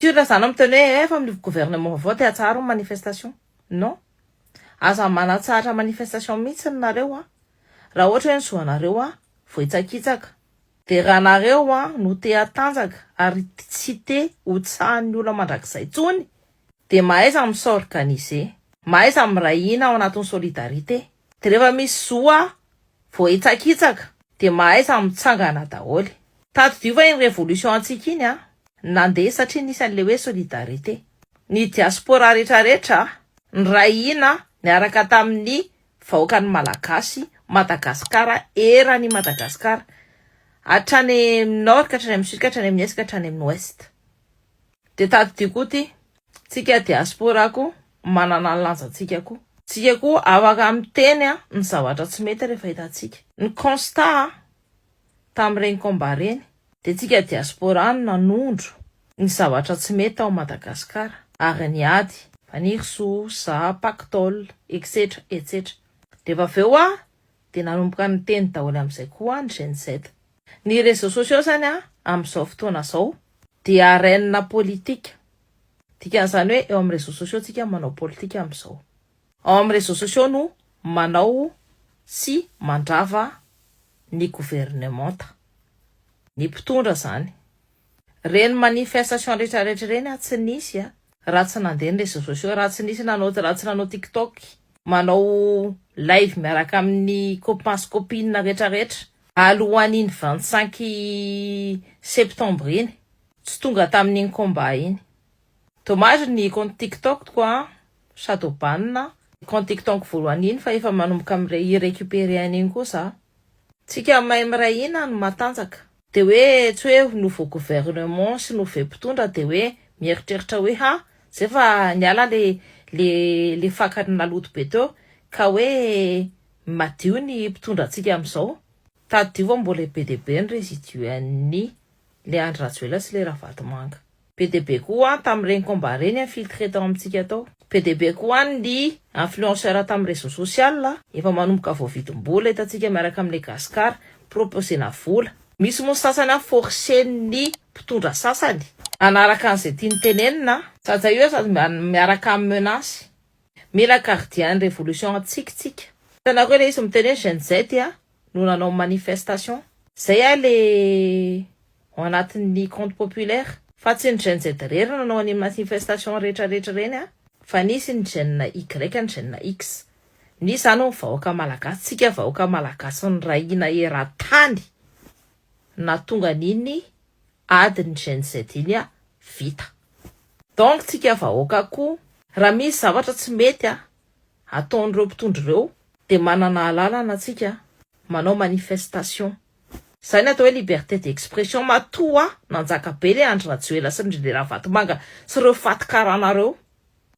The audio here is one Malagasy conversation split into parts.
Sûr izany aho miteny hoe efa amin'ny gouvernement vaovao te atsaharo ny manifestation. Non. Aza manatsahatra manifestation mihitsiny nareo an. Raha ohatra hoe ny zo anareo an vao hitsakitsaka. Dia raha nareo an no te hatanjaka ary tsy te ho tsahan'ny olona mandrakizay tsony dia mahaiza mi s'organiser. Mahaiza miray hina ao anatin'ny solidarité. De rehefa misy zo a voahitsakitsaka. De mahaiza mitsangana daholo. Tadidio fa iny révolution antsika iny a nandeha satria nisy an'le hoe solidarité. Ny diaspora retraretra niray hina niaraka tamin'ny vahoakan'ny Malagasy, Madagascar, eran'i Madagascar. Hatrany amin'ny nord ka hatrany amin'ny sud ka hatrany amin'ny est ka hatrany amin'ny ouest. Dia tadidio koa ity. Tsika diaspora koa manana ny lanjantsika koa. Tsika koa afaka miteny ny zavatra tsy mety rehefa hitantsika. Ny constat a! Tamin'ireny combat ireny dia tsika diaspora no nanondro ny zavatra tsy mety tao Madagascar ary ny ady. Fanirisoa, za, pactole, etsetra, etsetra. Rehefa avy eo a! dia nanomboka niteny daholo amin'izay koa ny Gen Z. Ny réseaux sociaux zany amin'izao fotoana izao dia arène politique. Dikan'izany hoe eo amin'ny réseaux sociaux tsika no manao politika amin'izao. Ao amin'ny réseaux sociaux no manao sy mandrava ny governemanta, ny mpitondra izany. Reny manifestation retraretra reny ah tsy nisy ah. Raha tsy nandeha ny réseaux sociaux, raha tsy nisy nanao, raha tsy nanao tiktok, manao live miaraka amin'ny copain sy copine retraretra alohan'iny vingt cinq septembre iny, tsy tonga tamin'iny combat iny. Dommage ny compte tiktok ko ah sady ho ban compte tiktonko voalohany iny fa efa manomboka mi recuperer an'iny koa za. Tsika mahay miray hina no matanjaka. Dia hoe tsy hoe nouveau gouvernement sy nouveau mpitondra dia hoe mieritreritra hoe ha zay fa niala le le le fakany naloto be teo ka hoe madio ny mpitondra antsika amizao. Tadidio fa mbola be dia be ny residue an'ny le Andry Rajoelina sy le Ravatomanga. Be dia be koa an tamin'ireny combat ireny infiltré tao amintsika tao. Be dia be koa an ny influenceurs tamin'ny réseaux sociales a. Efa manomboka voavidim-bola hitantsika miaraka amin'ilay Gascar proposena vola. Misy moa ny sasany an forcen'ny mpitondra sasany hanaraka an'izay tiany tenenina an. Saja io an sady mba miaraka amin'ny menace. Mila gardien ny révolution antsika tsika. Hitanareo ilay izy miteny hoe Gen Z an. no nanao manifestation. Zay ah le ao anatin'ny compte populaire. Fa tsy ny Gen Z rery nanao an'iny manifestation rehetra rehetra ireny ah, fa nisy ny Gen Y, ny Gen X. Nisy zany hono vahoaka Malagasy, tsika vahoaka Malagasy niray hina eran-tany nahatonga an'iny adin'ny Gen Z iny ah vita. Donc tsika vahoaka koa. Raha misy zavatra tsy mety ah, ataon'ireo mpitondra ireo dia manana alalana tsika manao manifestation zay ny atao hoe liberté d'expression matoa nanjaka be le Andry Rajoela sy ndry le Ravatomanga sy ireo faty karana reo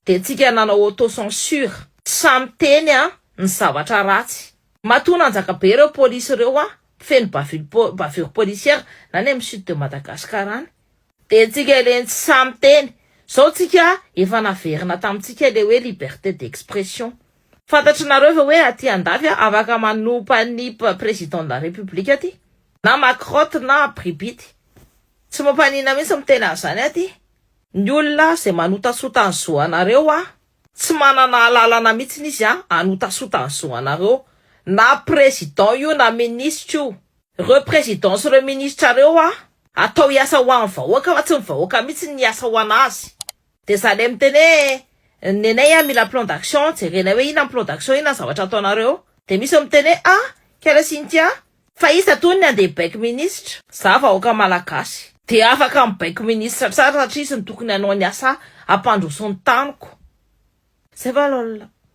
dia tsika nanao auto censure sa miteny a ny zavatra ratsy matoa nanjaka be ireo police ireo a mpifehy ny bavure policière na ny am sud de Madagascar any Dia tsika ireny tsy sahy miteny. Zao tsika efa naverina tamintsika le hoe liberté d'expression. Fantatry nareo ve hoe aty andafy a afaka manompa ny président de la république aty na macrotte na abribity. Tsy mampanina mintsy miteny an'zany aty. Ny olona zay manotasota ny zo anareo a tsy manana alalana mintsiny izy a anotasota ny zo anareo. Na président io na ministre io. Reo président sy reo ministra reo a atao hiasa ho an vahoaka fa tsy ny vahoaka mitsy ny hiasa ho an azy de za le miteny hoe nenay a mila plan d'action jerenay hoe inona ny plan d'action inona ny zavatra ataonareo de misy miteny hoe a kala cynthia fa iza tony ny andeha hibaiko ministra za vahoaka malagasy de afaka mibaiko ministra tsara satria izy no tokony hanao ny asa hampandroso ny taniko zay va lol.